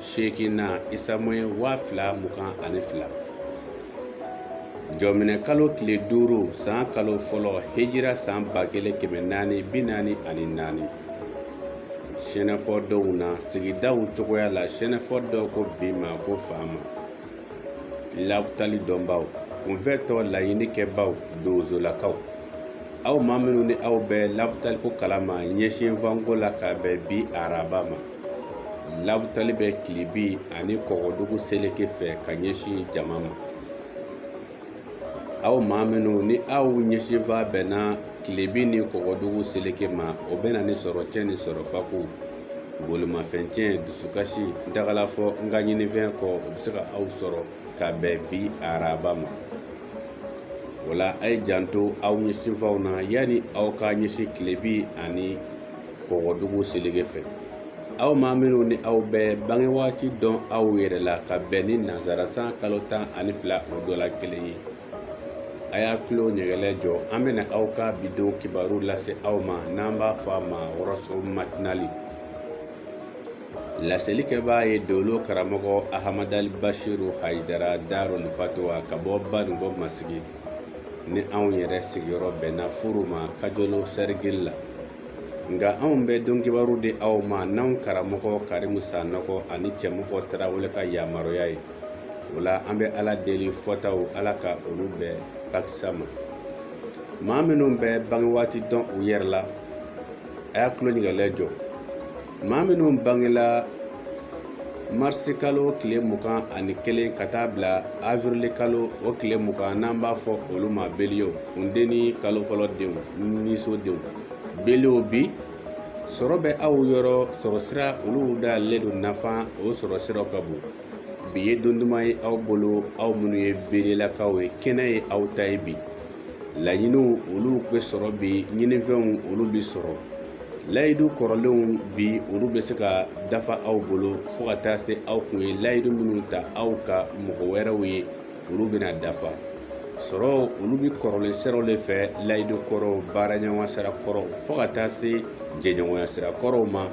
seeginnan isamuye waa fila mugan ani fila jɔminɛ kalo tile duuru san kalo fɔlɔ hejira san ba kelen kɛmɛ naani bi naani ani naani sɛnɛfɔ donw na sigidaw cogoya la sɛnɛfɔ dɔw ko bi ma ko faama labutali dɔnbaw kunfɛtɔ laɲinikɛbaw donsolakaw aw maa minnu ni aw bɛ labutaliko kalama ɲɛsinfanko la ka bɛn bi araba ma labutali bɛ tilebin ani kɔgɔdugu seleke fɛ ka ɲɛsin jama ma aw maa minnu ni aw ɲɛsinfan bɛnna tilebin ni kɔgɔdugu seleke ma o bɛ na ni sɔrɔ tiɲɛ ni sɔrɔ fako bolimafɛn tiɲɛ dusukasi dagalafɔ n ka ɲinifɛn kɔ o bɛ se ka aw sɔrɔ ka bɛn bi araba ma o la a ye janto aw ɲɛsinfanw na yanni aw ka ɲɛsin tilebin ani kɔgɔdugu seleke fɛ aw maa minnu ni aw bɛ bange waati dɔn aw yɛrɛ la ka bɛn ni nansara san kalo tan ani fila o dɔ la kelen ye a y'a tulo ɲɛgɛlɛ jɔ an bɛna aw ka bi don kibaru lase aw ma n'an b'a fɔ a ma wɔrɔso matinali laselikɛbaa ye dolo karamɔgɔ ahamadali basiru hayidara daruli fatuwa ka bɔ baninkɔ masigi ni anw yɛrɛ sigiyɔrɔ bɛnna furu ma kajolo sɛrigili la nka anw bɛ don kibaru di aw ma n'anw karamɔgɔ karimu sanɔgɔ ani cɛmɔgɔ tarawele ka yamaruya ye o la an bɛ ala deli fɔtaw ala ka olu bɛɛ bakisa ma maa minnu bɛ bange waati dɔn u yɛrɛ la a y'a tulo ɲɛgɛlɛ jɔ maa minnu bangela marisi kalo tile mugan ani kelen ka taa bila awirili kalo o tile mugan n'an b'a fɔ olu ma beliyew funteni kalo fɔlɔ denw nisɔndenw beliyew bi sɔrɔ bɛ aw yɔrɔ sɔrɔ sira olu dayɛlɛlen don nafa o sɔrɔ siraw ka bon bi ye don duman ye aw bolo aw minnu ye beliyelakaw ye kɛnɛ ye aw ta ye bi laɲiniw olu bɛ sɔrɔ bi ɲinifɛnw olu bɛ sɔrɔ layidu kɔrɔlenw bi olu bɛ se ka dafa aw bolo fo ka taa se aw kun ye layidu minnu ta aw ka mɔgɔ wɛrɛw ye olu bɛna dafa sɔrɔ olu bɛ kɔrɔlen siraw le fɛ layidu kɔrɔw baaraɲɔgɔn sira kɔrɔ fo ka taa se jɛɲɔgɔnya sira kɔrɔw ma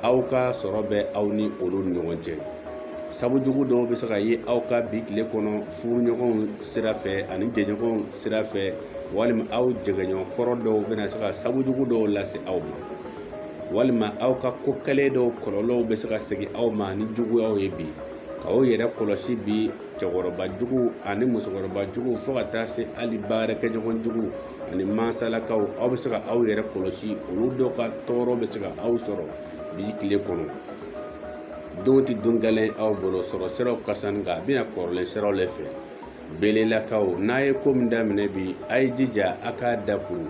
aw ka sɔrɔ bɛ aw ni olu ni ɲɔgɔn cɛ sabu jugu dɔw bɛ se ka ye aw ka bi tile kɔnɔ furuɲɔgɔnw sira fɛ ani jɛɲɔgɔn sira fɛ walima aw jɛgɛɲɔgɔn kɔrɔ dɔw bɛna se ka sabu jugu dɔw lase aw ma walima aw ka ko kɛlen dɔw kɔlɔlɔw bɛ se ka segin aw ma ni juguyaw ye bi ka aw yɛrɛ kɔlɔsi bi cɛkɔrɔba jugu ani musokɔrɔba jugu fo ka taa se hali baarakɛɲɔgɔn jugu ani mansalakaw aw bɛ se ka aw yɛrɛ kɔlɔsi olu dɔw ka tɔɔrɔ bɛ se ka aw sɔrɔ bi tile kɔnɔ don tɛ don gɛlɛn aw bolo sɔrɔ siraw ka sani nka a bɛna kɔrɔlen siraw le fɛ belelakaw n'a ye ko min daminɛ bi a ye jija a k'a dakuru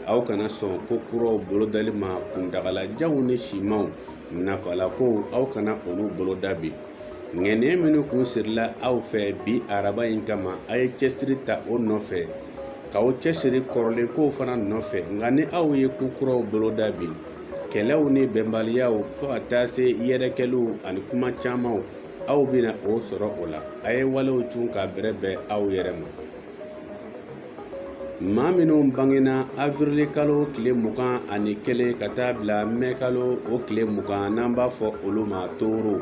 aw kana sɔn ko kuraw bolodali ma kuntagalajanw ni simanw nafalakow aw kana olu boloda bi ŋaniya minnu kun sirila aw fɛ bi araba in kama a ye cɛsiri ta o nɔfɛ k'aw cɛsiri kɔrɔlen kow fana nɔfɛ nka ni aw ye ko kuraw boloda bi kɛlɛw ni bɛnbaliyaw fo ka taa se yɛrɛkɛliw ani kuma camanw aw bɛna o sɔrɔ o la a ye walew cun ka bɛrɛbɛn aw yɛrɛ ma maa minnu bangena awirili kalo tile mugan ani kelen ka taa bila mɛ kalo o tile mugan n'an b'a fɔ olu ma toro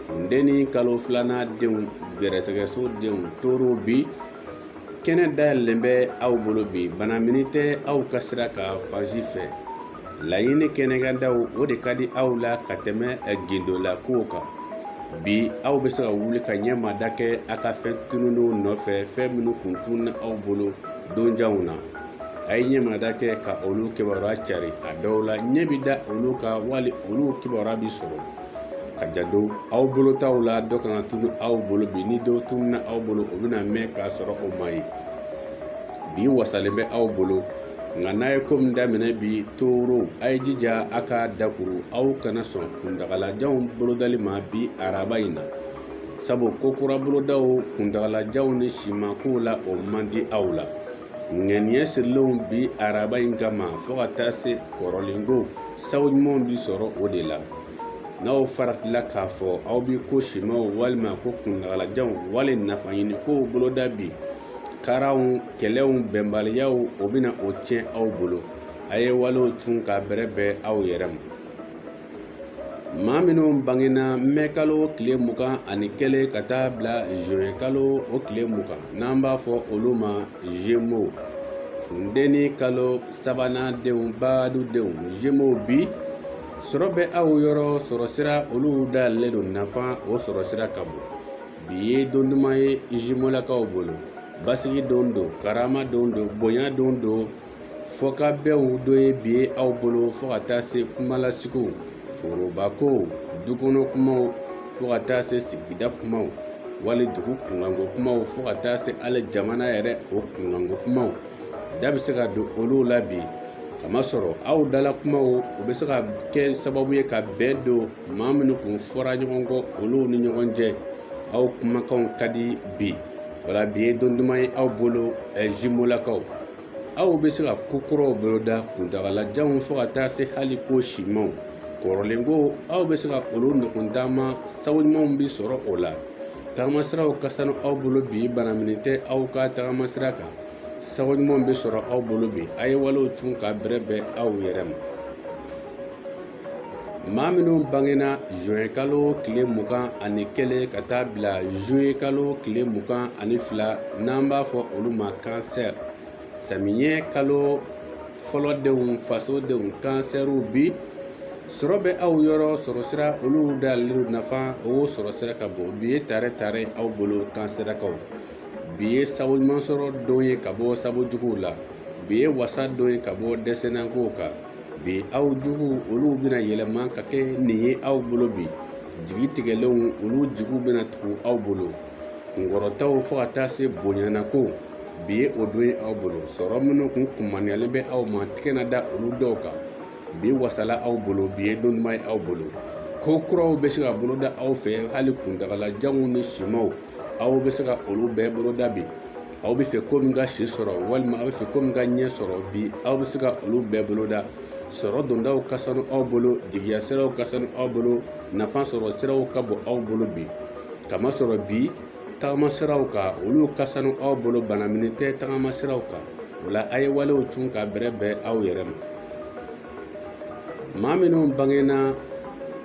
funteni kalo filanan denw gɛrɛsɛgɛso denw toro bi kɛnɛ dayɛlɛlen bɛ aw bolo bi banamini tɛ aw ka sira kan fan si fɛ laɲini kɛnɛkandaw o de ka di aw la ka tɛmɛ gindola kow kan bi aw bɛ se ka wuli ka ɲɛmada kɛ a ka fɛn tununenw nɔfɛ fɛn minnu kun tununna aw bolo donjanw na a ye ɲɛmada kɛ ka olu kibaruya cari a dɔw la ɲɛ bi da olu kan wali olu kibaruya bi sɔrɔ ka janto aw bolo taw la dɔ kana tunu aw bolo bi ni dɔw tununa aw bolo o bɛna mɛn k'a sɔrɔ o ma ye bi wasalen bɛ aw bolo nka n'a ye ko min daminɛ bi toro a ye jija a ka dakuru aw kana sɔn kuntagalajanw bolodali ma bi araba in na sabu ko kura bolodaw kuntagalajanw ni siman kow la o man di aw la ŋaniya sirilenw bi araba in kama fo ka taa se kɔrɔlen kow sago ɲumanw bi sɔrɔ o de la n'aw faratila k'a fɔ aw bi ko simaw walima ko kuntagalajanw wali nafa ɲini kow boloda bi karaw kɛlɛw bɛnbaliyaw o bɛna o tiɲɛ aw bolo a ye walew cun ka bɛrɛbɛn aw yɛrɛ ma maa minnu bangena mɛ kalo tile mugan ani kelen ka taa bila zuwɛn kalo o tile mugan n'an b'a fɔ olu ma zemo funteni kalo sabanan denw baadu denw zemow bi sɔrɔ bɛ aw yɔrɔ sɔrɔ sira olu dayɛlɛlen don nafa o sɔrɔ sira ka bon bi ye don duman ye zimolakaw bolo basigi don don karama don don bonya don don fɔkabɛnw don ye bi ye aw bolo fo ka taa se kumalasigiw foroba kow du kɔnɔ kumaw fo ka taa se sigida kumaw wali dugu kunkanko kumaw fo ka taa se hali jamana yɛrɛ o kunkanko kumaw da bɛ se ka don olu la bi kamasɔrɔ aw dala kumaw u bɛ se ka kɛ sababu ye ka bɛn don maa minnu kun fɔra ɲɔgɔn kɔ olu ni ɲɔgɔn cɛ aw kumakanw ka di bi wala bi ye don duman ye aw bolo zimolakaw aw bɛ se ka ko kuraw boloda kuntagalajanw fo ka taa se hali ko simanw kɔrɔlen ko aw bɛ se ka olu ɲɔgɔn taama sabu ɲumanw bɛ sɔrɔ o la tagamasiraw ka sanu aw bolo bi bana minɛ tɛ aw ka tagamasira kan sabu ɲumanw bɛ sɔrɔ aw bolo bi a ye walew cun ka bɛrɛbɛn aw yɛrɛ ma maa minnu bangena zuwɛn kalo tile mugan ani kelen ka taa bila zuye kalo tile mugan ani fila n'an b'a fɔ olu ma kansɛri samiyɛ kalo fɔlɔ denw faso denw kansɛriw bi sɔrɔ bɛ aw yɔrɔ sɔrɔ sira olu dayɛlɛlen nafa o sɔrɔ sira ka bon bi ye tare tare aw bolo kansɛrakaw bi ye sabu ɲuman sɔrɔ don ye ka bɔ sabu juguw la bi ye wasa don ye ka bɔ dɛsɛnnakow kan bi aw juguw olu bɛna yɛlɛma ka kɛ ɲin ye aw bolo bi jigi tigɛlenw olu jigiw bɛna tugu aw bolo kunkɔrɔtaw fo ka taa se bonyana ko bi ye o don ye aw bolo sɔrɔ minnu kun kunmaniyalen bɛ aw ma tigɛ na da olu dɔw kan bi wasala aw bolo bi ye don duman ye aw bolo ko kuraw bɛ se ka boloda aw fɛ hali kuntagalajanw ni simanw aw bɛ se ka olu bɛɛ boloda bi aw bɛ fɛ ko min ka si sɔrɔ walima aw bɛ fɛ ko min ka ɲɛ sɔrɔ bi aw bɛ se ka olu bɛɛ boloda sɔrɔ dondaw ka sanu aw bolo jigiya siraw ka sanu aw bolo nafa sɔrɔ siraw ka bon aw bolo bi kamasɔrɔ bi tagama siraw kan olu ka sanu aw bolo bana minɛ tɛ tagama siraw kan o la a ye walew cun ka bɛrɛbɛn aw yɛrɛ ma maa minnu bangenna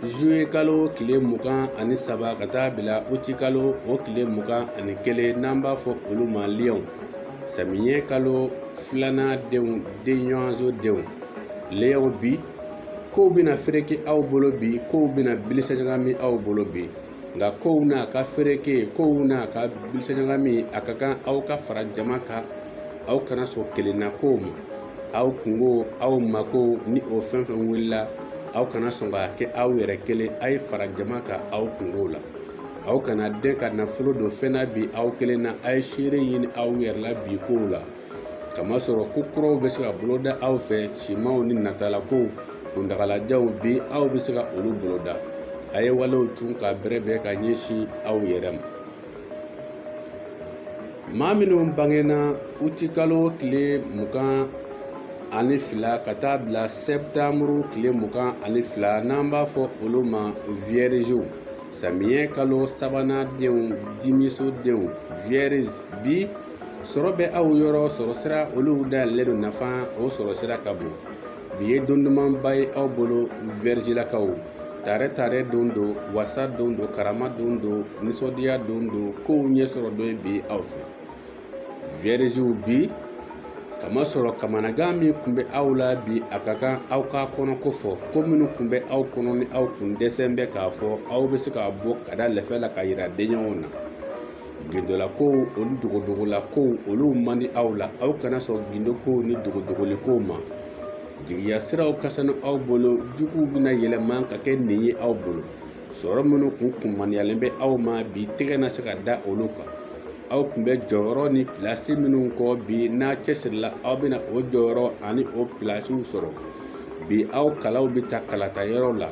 zuye kalo tile mugan ani saba ka taa bila uti kalo o tile mugan ani kelen n'an b'a fɔ olu ma liyɔn samiyɛ kalo filanan denw denɲɔgɔnso denw liyɔn bi kow bɛna fereke aw bolo bi kow bɛna bilisa ɲagami aw bolo bi nka kow n'a ka fereke kow n'a ka bilisa ɲagami a ka kan aw ka fara jama kan aw kana sɔn kelenna kow ma aw kunkow aw makow ni o fɛn fɛn wulila aw kana sɔn k'a kɛ aw yɛrɛ kelen a ye fara jama kan aw kunkow la aw kana den ka nafolo don fɛn na bi aw kelen na a ye seere ɲini aw yɛrɛ la bi kow la kamasɔrɔ ko kuraw bɛ se ka boloda aw fɛ simanw ni natalakow kuntagalajanw bi aw bɛ se ka olu boloda a ye walew cun ka bɛrɛbɛn ka ɲɛsin aw yɛrɛ ma maa minnu bangenna uti kalo tile mugan ani fila ka taa bila sɛtanburu tile mugan ani fila n'an b'a fɔ olu ma wiyɛriziw samiyɛ kalo sabanan denw dimiso denw wiyɛrizi bi sɔrɔ bɛ aw yɔrɔ sɔrɔ sira olu dayɛlɛlen don nafa o sɔrɔ sira ka bon bi ye don dumanba ye aw bolo vɛrijilakaw tare tare don don wasa don don karama don don nisɔndiya don don kow ɲɛsɔrɔ don ye bi aw fɛ vɛrijiw bi k'a masɔrɔ kamanagan min kun bɛ aw la bi a ka kan aw k'a kɔnɔko fɔ ko minnu kun bɛ aw kɔnɔ ni aw kun dɛsɛlen bɛ k'a fɔ aw bɛ se k'a bɔ k'a da lɛfɛ la k'a yira denɲɔgɔnw na gindolakow ani dogodogolakow olu man di aw la aw kana sɔn gindokow ni dogodogolikow ma jigiya siraw ka sani aw bolo juguw bɛna yɛlɛma ka kɛ nin ye aw bolo sɔrɔ minnu kun kunmaniyalen bɛ aw ma bi tɛgɛ na se ka da olu kan aw kun bɛ jɔyɔrɔ ni pilasi minnu kɔ bi n'a cɛsirila aw bɛna o jɔyɔrɔ ani o pilasiw sɔrɔ bi aw kalaw bɛ ta kalata yɔrɔ la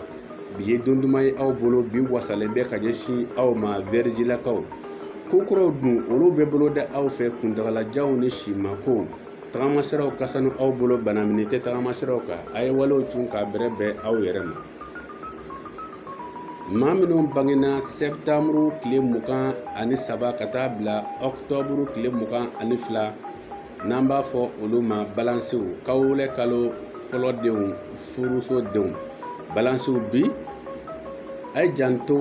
bi ye don duman ye aw bolo bi wasalen bɛ ka ɲɛsin aw ma vɛrijilakaw ko kuraw dun olu bɛ bolo da aw fɛ kuntagalajanw ni simakow tagama siraw ka sanu aw bolo banamini tɛ tagama siraw kan a ye walew cun k'a bɛrɛ bɛn aw yɛrɛ ma maa minnu bangena sɛtanburu tile mugan ani saba ka taa bila ɔktɔburu tile mugan ani fila n'an b'a fɔ olu ma balansiw kawolɛ kalo fɔlɔ denw furuso denw balansiw bi a ye janto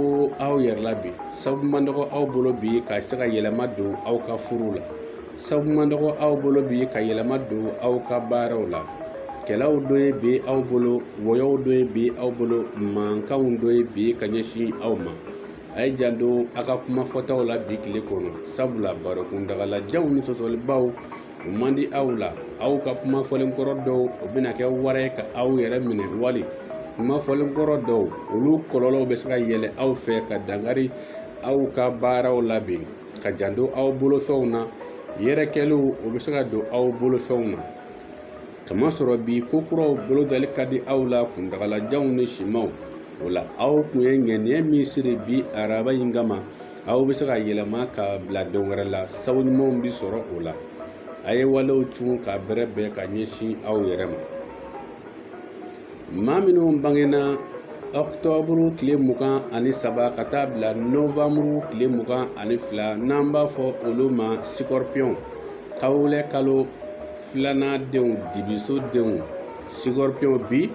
aw yɛrɛ la bi sabu man dɔgɔ aw bolo bi ka se ka yɛlɛma don aw ka furu la sabu man dɔgɔ aw bolo bi ka yɛlɛma don aw ka baaraw la kɛlɛw don ye bi aw bolo wɔyɔw don ye bi aw bolo mankanw don ye bi ka ɲɛsin aw ma a ye janto a ka kuma fɔtaw la bi tile kɔnɔ sabula baro kuntagalajanw ni sɔsɔlibaw o man di aw la aw ka kuma fɔlen kɔrɔ dɔw o bɛna kɛ wara ye ka aw yɛrɛ minɛ wali kuma fɔlen kɔrɔ dɔw olu kɔlɔlɔw bɛ se ka yɛlɛ aw fɛ ka dankari aw ka baaraw la bi ka janto aw bolofɛnw na yɛrɛkɛliw o bɛ se ka don aw bolofɛnw na k'a masɔrɔ bi ko kuraw bolo dali ka di aw la kuntagalajanw ni simanw o la aw kun ye ŋaniya min siri bi araba in kama aw bɛ se ka yɛlɛma ka bila don wɛrɛ la sabu ɲumanw bi sɔrɔ o la a ye walew cun k'a bɛrɛ bɛn ka ɲɛsin aw yɛrɛ ma maa minnu bangena ɔktɔburu tile mugan ani saba ka taa bila novanburu tile mugan ani fila n'an b'a fɔ olu ma sikɔrɔpiyɔn kawulɛ kalo filanan denw dibiso denw sikɔrɔpiyɔn bi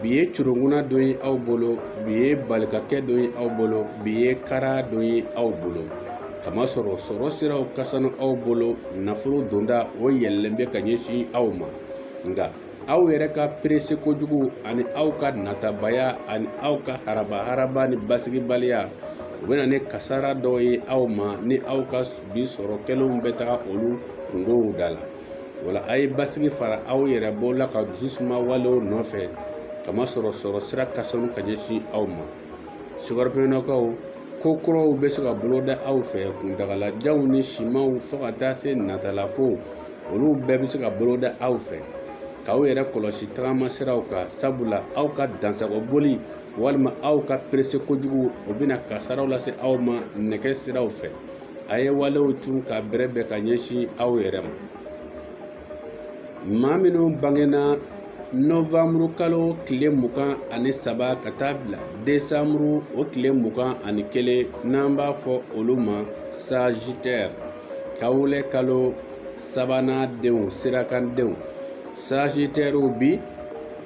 bi ye curunguna don ye aw bolo bi ye balikakɛ don ye aw bolo bi ye kara don ye aw bolo k'a masɔrɔ sɔrɔ siraw ka sanu aw bolo nafolo donda o yɛlɛlen bɛ ka ɲɛsin aw ma nka aw yɛrɛ ka perese kojugu ani aw ka natabaya ani aw ka haraba haraba ni basigibaliya o bɛna ni kasara dɔw ye aw ma ni aw ka bi sɔrɔ kɛlenw bɛ taga olu kungow da la o la a ye basigi fara aw yɛrɛ bɔ la ka dususuma walew nɔfɛ k'a masɔrɔ sɔrɔ sira ka sanu ka ɲɛsin aw ma sikɔripiyɔnnakaw ko kuraw bɛ se ka bolo da aw fɛ kuntagalajanw ni simanw fo ka taa se natala ko olu bɛɛ bɛ se ka bolo da aw fɛ k'aw yɛrɛ kɔlɔsi tagama siraw kan sabula aw ka dansago boli walima aw ka perese kojugu o bɛna kasaraw lase aw ma nɛgɛ siraw fɛ a ye walew tun ka bɛrɛ bɛn ka ɲɛsin aw yɛrɛ ma maa minnu bangena nɔvanburu kalo tile mugan ani saba ka taa bila desanburu o tile mugan ani kelen n'an b'a fɔ olu ma sazitɛri kawulɛ kalo sabanan denw sirakandenw sazitɛriw bi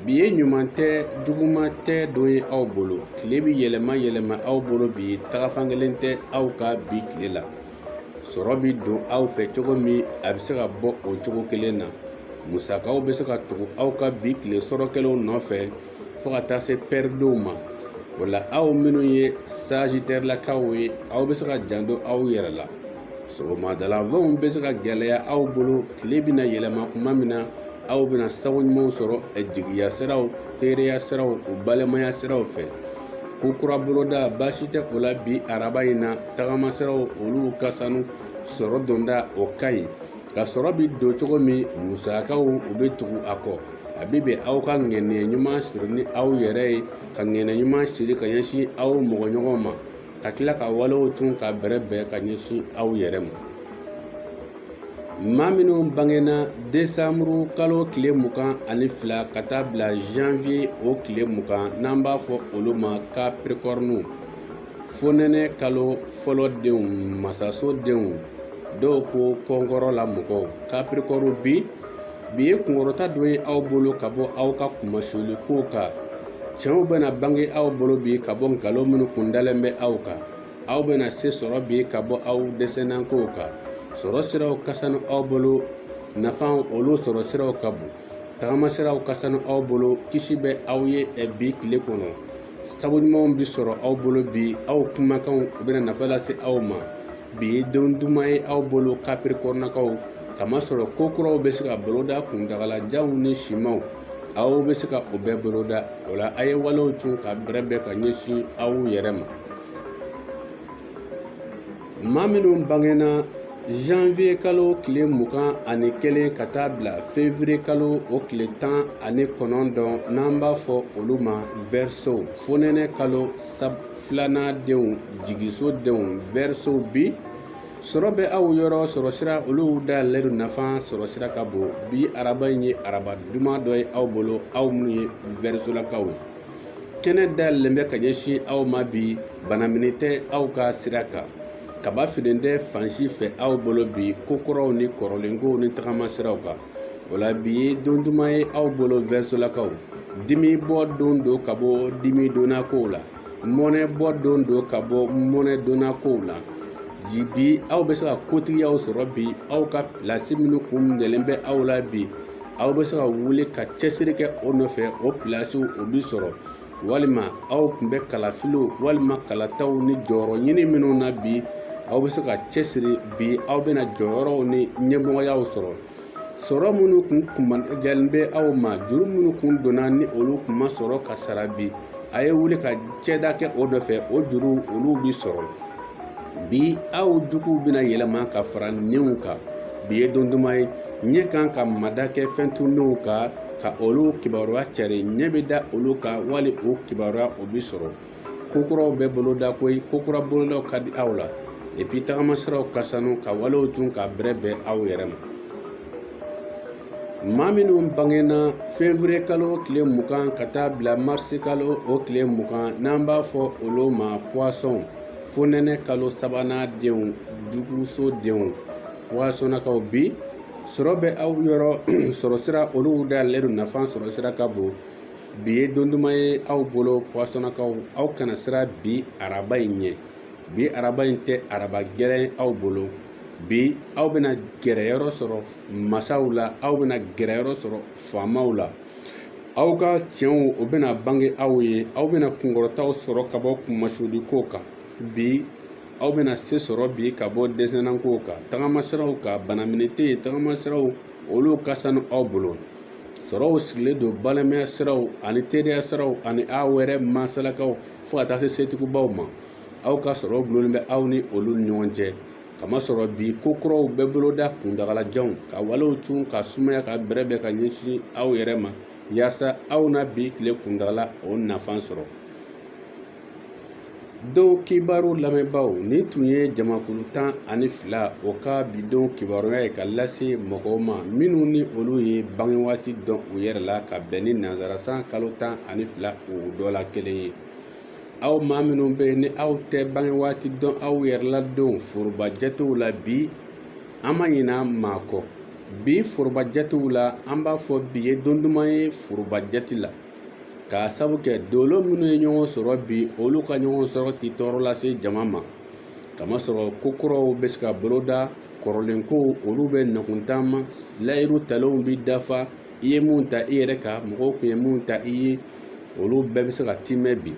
bi ye ɲuman tɛ juguman tɛ don ye aw bolo tile bi yɛlɛma yɛlɛma aw bolo bi taga fan kelen tɛ aw ka bi tile la sɔrɔ bi don aw fɛ cogo min a bɛ se ka bɔ o cogo kelen na musakaw bɛ se ka tugu aw ka bi tile sɔrɔ kɛlenw nɔfɛ fo ka taa se pɛridenw ma o la aw minnu ye sazitɛrilakaw ye aw bɛ se ka janto aw yɛrɛ la sɔgɔmada la fɛnw bɛ se ka gɛlɛya aw bolo tile bɛna yɛlɛma kuma min na aw bɛna sago ɲumanw sɔrɔ jigiya siraw teriya siraw o balimaya siraw fɛ ko kura boloda baasi tɛ o la bi araba in na tagama siraw olu ka sanu sɔrɔ donda o ka ɲi ka sɔrɔ bi don cogo min musakaw u bɛ tugu a kɔ a bɛ bɛn aw ka ŋaniya ɲuman siri ni aw yɛrɛ ye ka ŋaniya ɲuman siri ka ɲɛsin aw mɔgɔ ɲɔgɔn ma ka tila ka walew tun ka bɛrɛ bɛn ka ɲɛsin aw yɛrɛ ma maa minnu bangena desanburu kalo tile mugan ani fila ka taa bila janvier o tile mugan n'an b'a fɔ olu ma kapirikɔriniw fonɛnɛ kalo fɔlɔ denw masaso denw dɔw ko kɔnkɔrɔ la mɔgɔw kapirikɔri bi bi ye kunkɔrɔta don ye aw bolo ka bɔ aw ka kunmasuli kow kan tiɲɛw bɛna bange aw bolo bi ka bɔ nkalon minnu kun dalen bɛ aw kan aw bɛna se sɔrɔ bi ka bɔ aw dɛsɛnankow kan sɔrɔ siraw ka sanu aw bolo nafa olu sɔrɔ siraw ka bon tagama siraw ka sanu aw bolo kisi bɛ aw ye bi tile kɔnɔ sabu ɲumanw bɛ sɔrɔ aw bolo bi aw kumakanw u bɛna nafa lase aw ma bi ye don duman ye aw bolo kapirikɔrinakaw k'a masɔrɔ ko kuraw bɛ se ka boloda kuntagalajanw ni simanw aw bɛ se ka o bɛɛ boloda o la a ye walew tun ka bɛrɛ bɛn ka ɲɛsin aw yɛrɛ ma maa minnu bangena zanwiye kalo tile mugan ani kelen ka taa bila fewriye kalo o tile tan ani kɔnɔntɔn n'an b'a fɔ olu ma wɛriso fonɛnɛ kalo sa filanan denw jigiso denw wɛrisow bi sɔrɔ bɛ aw yɔrɔ sɔrɔ sira olu dayɛlɛlen don nafa sɔrɔ sira ka bon bi araba in ye araba duman dɔ ye aw bolo aw minnu ye wɛrisolakaw ye kɛnɛ dayɛlɛlen bɛ ka ɲɛsin aw ma bi banamini tɛ aw ka sira kan kaba finnen tɛ fan si fɛ aw bolo bi ko kɔrɔw ni kɔrɔlenkow ni tagama siraw kan o la bi ye don duman ye aw bolo wɛrisolakaw dimi bɔ don don ka bɔ dimi donna kow la mɔnɛ bɔ don don ka bɔ mɔnɛ donna kow la bi aw bɛ se ka kotigiyaw sɔrɔ bi aw ka pilasi minnu kun minɛlen bɛ aw la bi aw bɛ se ka wuli ka cɛsiri kɛ o nɔfɛ o pilasiw o bi sɔrɔ walima aw tun bɛ kalafiliw walima kalataw ni jɔyɔrɔ ɲini minnu na bi aw bɛ se ka cɛsiri bi aw bɛna jɔyɔrɔw ni ɲɛmɔgɔyaw sɔrɔ sɔrɔ minnu kun kunmajalen bɛ aw ma juru minnu kun donna ni olu kun ma sɔrɔ ka sara bi a ye wuli ka cɛda kɛ o nɔfɛ o juru olu bi sɔrɔ bi aw juguw bɛna yɛlɛma ka fara ɲinw kan bi ye don duman ye ɲɛ kan ka mada kɛ fɛn tununnenw kan ka olu kibaruya cari ɲɛ bɛ da olu kan wali o kibaruya o bi sɔrɔ ko kuraw bɛ boloda koyi ko kura bolodaw ka di aw la epi tagamasiraw ka sanu ka walew tun ka bɛrɛbɛn aw yɛrɛ ma maa minnu bangena fevriye kalo tile mugan ka taa bila marisi kalo o tile mugan n'an b'a fɔ olu ma puwasɔn fonɛnɛ kalo sabanan denw juguso denw puwasɔnnakaw bi sɔrɔ bɛ aw yɔrɔ sɔrɔ sira olu dayɛlɛlen don nafa sɔrɔ sira ka bon bi ye don duman ye aw bolo puwasɔnnakaw aw kana siran bi araba in ɲɛ bi araba in tɛ araba gɛlɛn aw bolo bi aw bɛna gɛrɛ yɔrɔ sɔrɔ masaw la aw bɛna gɛrɛ yɔrɔ sɔrɔ faamaw la aw ka cɛnw o bɛna bange aw ye aw bɛna kunkɔrɔtaw sɔrɔ ka bɔ kunmasuli kow kan bi aw bɛna se sɔrɔ bi ka bɔ dɛsɛnna kow kan tagama siraw kan banamini tɛ yen tagama siraw olu ka sanu aw bolo sɔrɔw sigilen don balimaya siraw ani teriya siraw ani aw yɛrɛ masalakaw fo ka taa se setigibaw ma aw ka sɔrɔ dulonnen bɛ aw ni olu ni ɲɔgɔn cɛ k'a masɔrɔ bi ko kuraw bɛ boloda kuntaalajanw ka walew cun ka sumaya ka bɛrɛbɛn ka ɲɛsin aw yɛrɛ ma yaasa aw na bi tile kuntaala o nafa sɔrɔ don kibaru lamɛnbaaw nin tun ye jamakulu tan ani fila o ka bi don kibaruya ye ka lase mɔgɔw ma minnu ni olu ye bange waati dɔn u yɛrɛ la ka bɛn ni nanzara san kalo tan ani fila o dɔ la kelen ye aw maa minnu bɛ yen ni aw tɛ bange waati dɔn aw yɛrɛ la don foroba jatew la bi an ma ɲina maa kɔ bi foroba jatew la an b'a fɔ bi ye don duman ye foroba jate la k'a sabu kɛ dolo minnu ye ɲɔgɔn sɔrɔ bi olu ka ɲɔgɔn sɔrɔ tɛ tɔɔrɔ lase jama ma kamasɔrɔ ko kuraw bɛ se ka boloda kɔrɔlen kow olu bɛ nɔkan taama layiru talenw bɛ dafa i ye min ta i yɛrɛ kan mɔgɔw tun ye min ta i ye olu bɛɛ bɛ se ka tiimɛ bi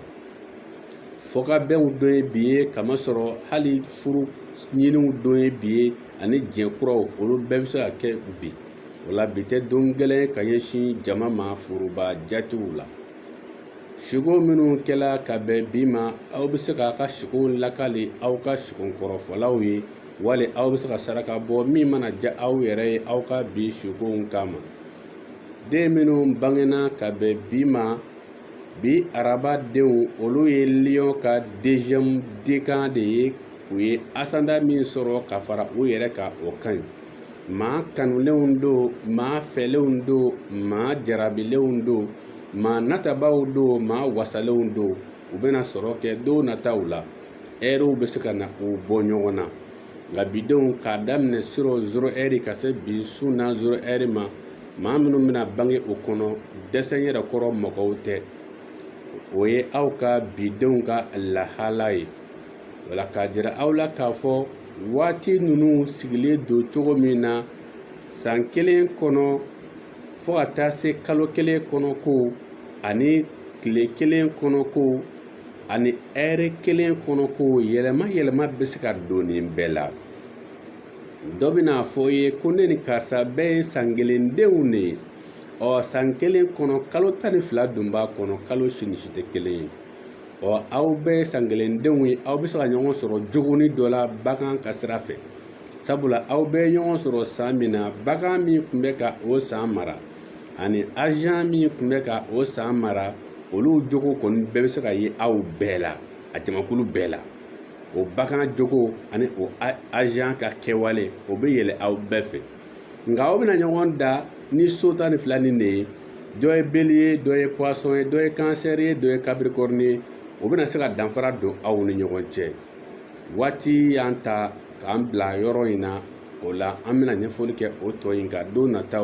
fɔkabɛnw don ye bi ye kamasɔrɔ hali furu ɲiniw don ye bi ye ani jɛ kuraw olu bɛɛ bɛ se ka kɛ bi o la bi tɛ don gɛlɛn ka ɲɛsin jama ma foroba jatew la siko minnu kɛla ka bɛn bi ma aw bɛ se k'a ka sikow lakali aw ka siko kɔrɔfɔlaw ye wali aw bɛ se ka saraka bɔ min mana diya aw yɛrɛ ye aw ka bi sukow kama den minnu bangena ka bɛn bi ma bi araba denw olu ye liyɔn ka deziyɛmu dekan de ye u ye asandan min sɔrɔ ka fara u yɛrɛ kan o ka ɲi maa kanulenw don maa fɛlenw don maa jarabilenw don maa natabaw don maa wasalenw don u bɛna sɔrɔ kɛ don nataw la ɛriw bɛ se ka na u bɔ ɲɔgɔn na nka bidenw k'a daminɛ surɔ zero ɛri ka se bi su na zero ɛri ma maa minnu bɛna bange o kɔnɔ dɛsɛ yɛrɛ kɔrɔ mɔgɔw tɛ o ye aw ka bidenw ka lahala ye wala k'a jira aw la k'a fɔ waati ninnu sigilen don cogo min na san kelen kɔnɔ fo ka taa se kalo kelen kɔnɔ ko ani tile kelen kɔnɔ ko ani ɛri kelen kɔnɔ ko yɛlɛma yɛlɛma bɛ se ka don nin bɛɛ la dɔ bɛn'a fɔ i ye ko ne ni karisa bɛɛ ye san kelen denw de ye ɔ san kelen kɔnɔ kalo tan ni fila dun b'a kɔnɔ kalo si ni si tɛ kelen ye ɔ aw bɛɛ ye san kelen denw ye aw bɛ se ka ɲɔgɔn sɔrɔ jogoni dɔ la bagan ka sira fɛ sabula aw bɛɛ ye ɲɔgɔn sɔrɔ san min na bagan min tun bɛ ka o san mara ani azan min tun bɛ ka o san mara olu jogo kɔni bɛɛ bɛ se ka ye aw bɛɛ la a jamakulu bɛɛ la o bagan jogo ani o azan ka kɛwale o bɛ yɛlɛ aw bɛɛ fɛ nka aw bɛna ɲɔgɔn dan ni so tan ni fila nin de ye dɔ ye beliye ye dɔ ye pɔsɔn ye dɔ ye kansɛri ye dɔ ye kapirikɔrini ye o bɛna se ka danfara don aw ni ɲɔgɔn cɛ waati y'an ta k'an bila yɔrɔ in na o la an bɛna ɲɛfɔli kɛ o tɔ in kan don nataw